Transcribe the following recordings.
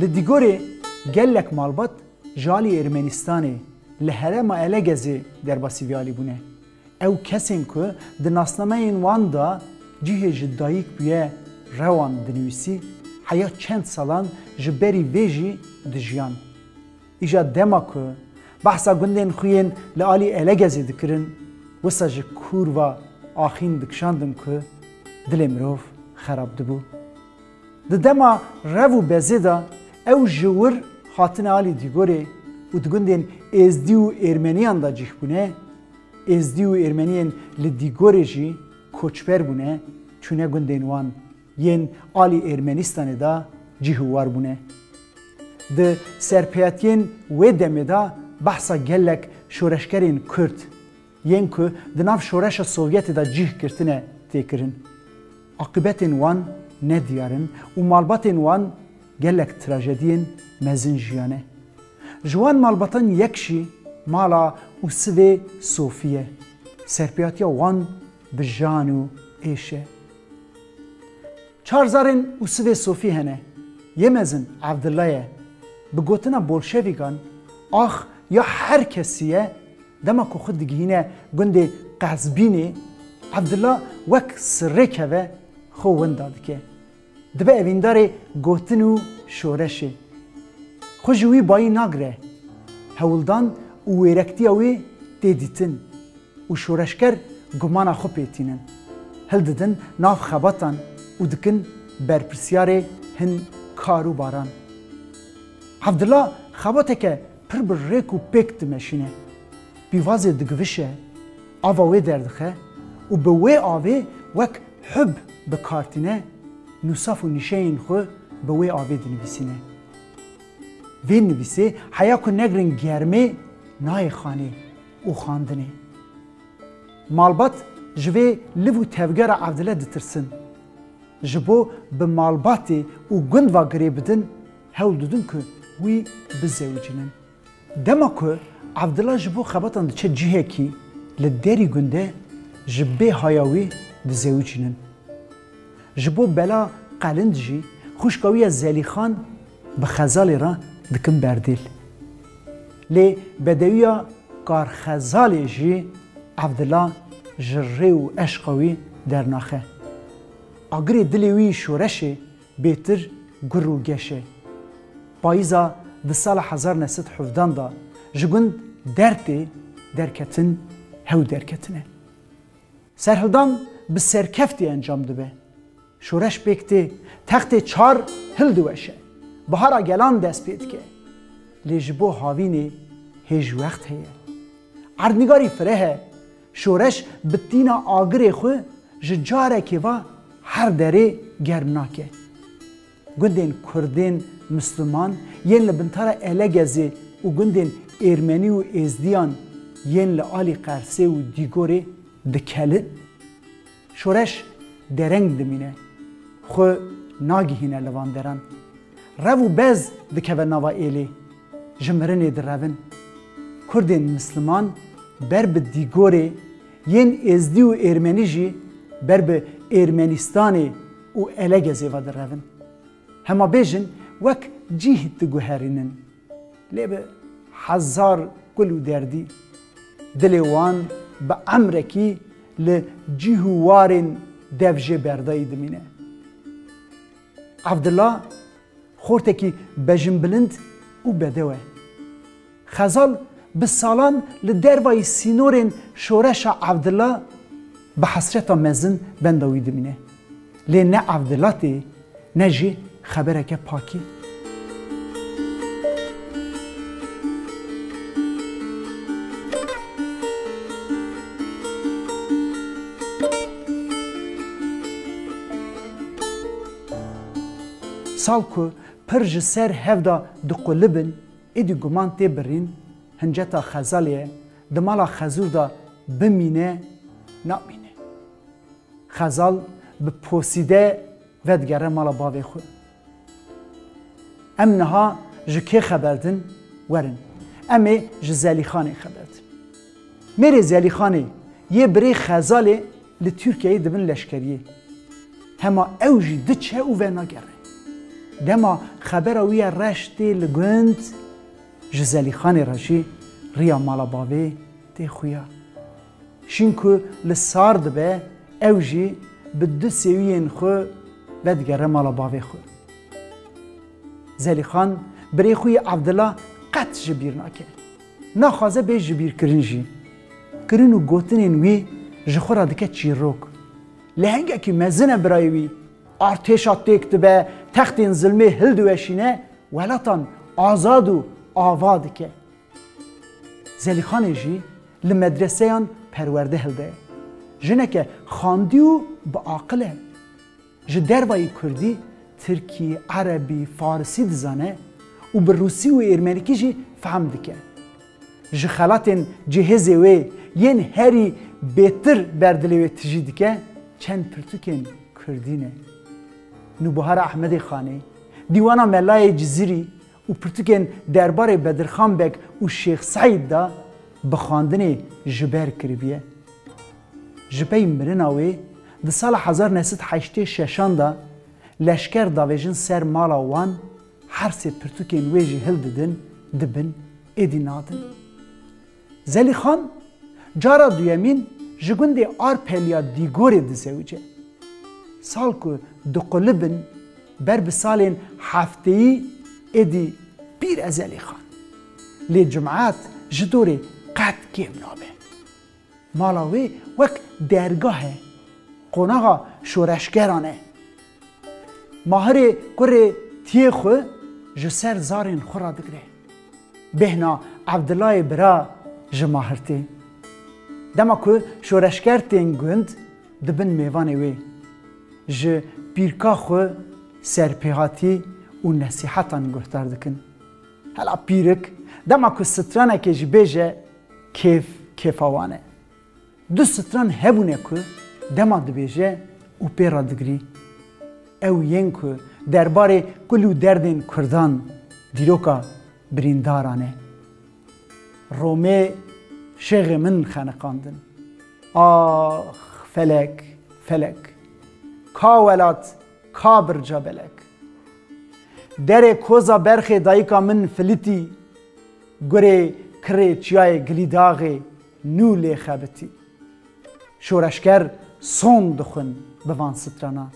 Li Dîgorê gelek malbat ji aliyê Ermenistanê li herêma Elegezê derbasî vê alîbûne. Ew kesên ku di nasnameyên wan de cihê ji dayik bûye rewan dinivîsî, heya çend salan ji berî vê jî dijiyan. Îja dema ku behsa gundên xwe yên li alî Elegezê dikirin, wisa ji kûrva axîn dikişandin ku dilê mirov xerab dibû. Di dema rev û bezê de ew ji wir hatine alî Dîgorê û di gundên Êzdî û Êrmeniyan de cîh bûne, Êzdî û Êrmeniyên li Dîgorê jî koçber bûne çûne gundên wan, yên alî Êrmenistanê de cîh û war bûne. Di serpêyatiyên wê demê de behsa gelek şoreşgerên Kurd, yên ku di nav Şoreşa Sovyetê de cih girtine tê kirin. Aqibetên wan ne diyar in û malbatên wan gelek trajediyên mezin jiyane. Ji wan malbatan yek jî mala û sivê Sofî ye. Serpêatiya wan bi jan û êş e. Çar zarên û sivê Sofî hene. Yê mezin Evdilla ye. Bi gotina bolşevîkan, Ax ya her kesî ye Dema ku xwe digihîne gundê Qezbînê, Evdilla wek sirrêkeve xwe winda dike. Dibe evîndarê gotin û şoreşê. Xwe ji wî bayî nagire. Hewldan û wêrektiya wê tê dîtin û şoreşger gumana xwe pê tînin. Hildidin nav xebatan û dikin berpirsyarê hin kar û baran. Evdilla xebateke Pir bi rêk û pêk dimeşîne, pîvazê digivişe, ava wê derdixe û bi wê avê wek hub bi kar tîne, nûsaf û nîşeyên xwe bi wê avê dinivîsîne. Vê nivîsê heya ku negrin germê nayê xanê û xandinê. Malbat ji vê liv û tevgera Evdile ditirsin. Ji bo bi malbatê û gund va girê bidin, hewl didin ku wî bizewicînin. Dema ku Evdila ji bo xebatan diçe cihekî li derî gunde ji bê haya wî dizewicînin. Ji bo bela qelind jî xwişka wî ya Zelîxan bi Xezalê re dikin berdêl. Lê bedewiya Karxezalê jî Evdila ji rê û eşqa wî dernaxe. Agirê dilê wî şoreşê Bêtir gur û geş e. Payîza di sala hezar neh sed hevdan de ji gund Dertê derketin hew derketine. Serhildan bi serkeftî encam dibe. Şoreş pêk tê, textê çar hil diweşe. Bihara gelan dest pê dike. Lê ji bo havînê hêj wext heye. Erdnîgarî fireh e, Şoreş bi tîna agirê xwe ji carekê ve her derê germ nake. Gundên Kurdên Misliman yên li bintara Elegezê û gundên Êrmenî û Êzdiyan yên li alî Qersê û Dîgorê dikelin. Şoreş dereng dimîne, xwe nagihîne li van deran. Rev û bez dikeve nava êlê, ji mirinê direvin. Kurdên misliman ber bi dîgorê, yên êzdî û êrmenî jî ber bi êrmenîstanê û elegezê ve direvin. Hema bêjin wek cîh diguherînin. Lê bi hezar kul û derdî dilê wan bi emrekî li cîh û warên dev jê berdayî dimîne. Evdila xortekî bejinbilind û bedew e. Xezal bi salan li dervayî sînorên şoreşa Evdila bi hesreta mezin benda wî dimîne. Lê ne ev vilat e ne jî xebereke pak e. Sal ku pir ji ser hev da diqulibin, êdî guman tê birîn hinceta xezalê ye, di mala xezûr da bimîne namîne. Xezal bi posîde vedigere mala bavê xwe. Em niha ji kê xeber din? Werin, em ê ji Zelîxanê xeber din. Mêrê Zelîxanê yê birê Xezalê li Tirkiyeyê dibin leşkeriyê. Hema ew jî diçe û venagere. Dema xebera wî ya reş tê li gund, ji Zelîxanê re jî riya mala bavê tê xuya. Şîn ku li sar dibe ew jî bi du sêwiyên xwe ve digere mala bavê xwe. Zelîxan birê xwe yê Evdila qet ji bîr nake. Naxwaze bê ji bîr kirin jî. Kirin û gotinên wî ji xwe re dike çîrok. Lehengekî mezin e birayê wî. Artêşa têk dibe, textên zilmê hildiweşîne, welatan azad û ava dike. Zelîxanê jî li medreseyan perwerde hilde. Jineke xandî û bi aqil e. Ji dervayî kurdî, tirkî, erebî, farisî dizane û bi rûsî û êrmenikî jî fehm dike. Ji xelatên cihêzê wê yên herî bêtir ber dilê wê tijî dike, çend pirtûkên kurdî ne. Nûbihar Ehmedê Xanê, Dîwana Melayê Cizîrî û pirtûkên derbarê Bedirxan Beg û Şêx Seîd de bi xwendinê ji ber kiribiye. Ji pey mirina wê di sala hezar neh sed heştê şeşan de leşker davêjin ser mala wan, her sê pirtûkên wê jî hildidin, dibin, êdî nadin. Zelîxan cara duyemîn ji gundê Arpeliya Dîgorê disewice. Sal ku diqulibin ber bi salên hefteyî êdî pîr e Zelîxan. Lê cumat ji dorê qet kêm nabe. Mala wê wek dergah e, qonaxa şoreşgeran e. Mahirê kurê tiyê xwe ji ser zarên xwe radigre. Bêhna Evdilayê bira ji Mahirtê. Dema ku şoreşger tên gund di bin mêvanê wê ji pîrka xwe serpêhatî û nesîhetan guhdar dikin. Hela pîrik dema ku stranekê jî bêje kêf kêfa wan e. Du stran hebûne ku dema dibêje û pê re digrî, ew yên ku derbarê kul û derdên kurdan dîroka birîndaran e. Romê şêxê min xeniqandin. Ax felek, felek! Ka welat, ka birca belek! Derê koza berxê dayika min filîtî, gurê kirê çiyayê Gilîdaxê Nû lê xebitî. Şoreşger son dixwin bi van stranan.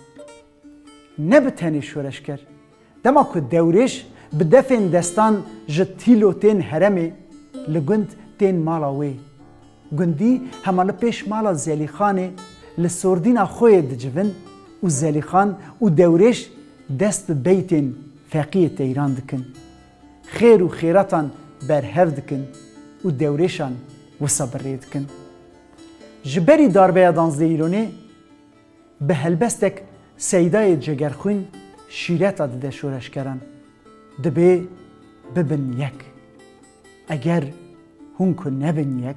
Ne bi tenê şoreşger. Dema ku dewrêş bi defên destan ji tîlo tên heremê, li gund tên mala wê. Gundî hema li pêş mala Zelîxanê li sordîna xoyê dicivin û Zelîxan û dewrêş dest bi beytên Feqiyê Teyran dikin. Xêr û xêratan berhev dikin û dewrêşan wisa bi rê dikin. Ji berî darbeya Danzdeyîlonê bi helbestek seydayê cegerxwîn şîreta dide şoreşgeran. Dibê bibin yek. Eger hûn ku nebin yek.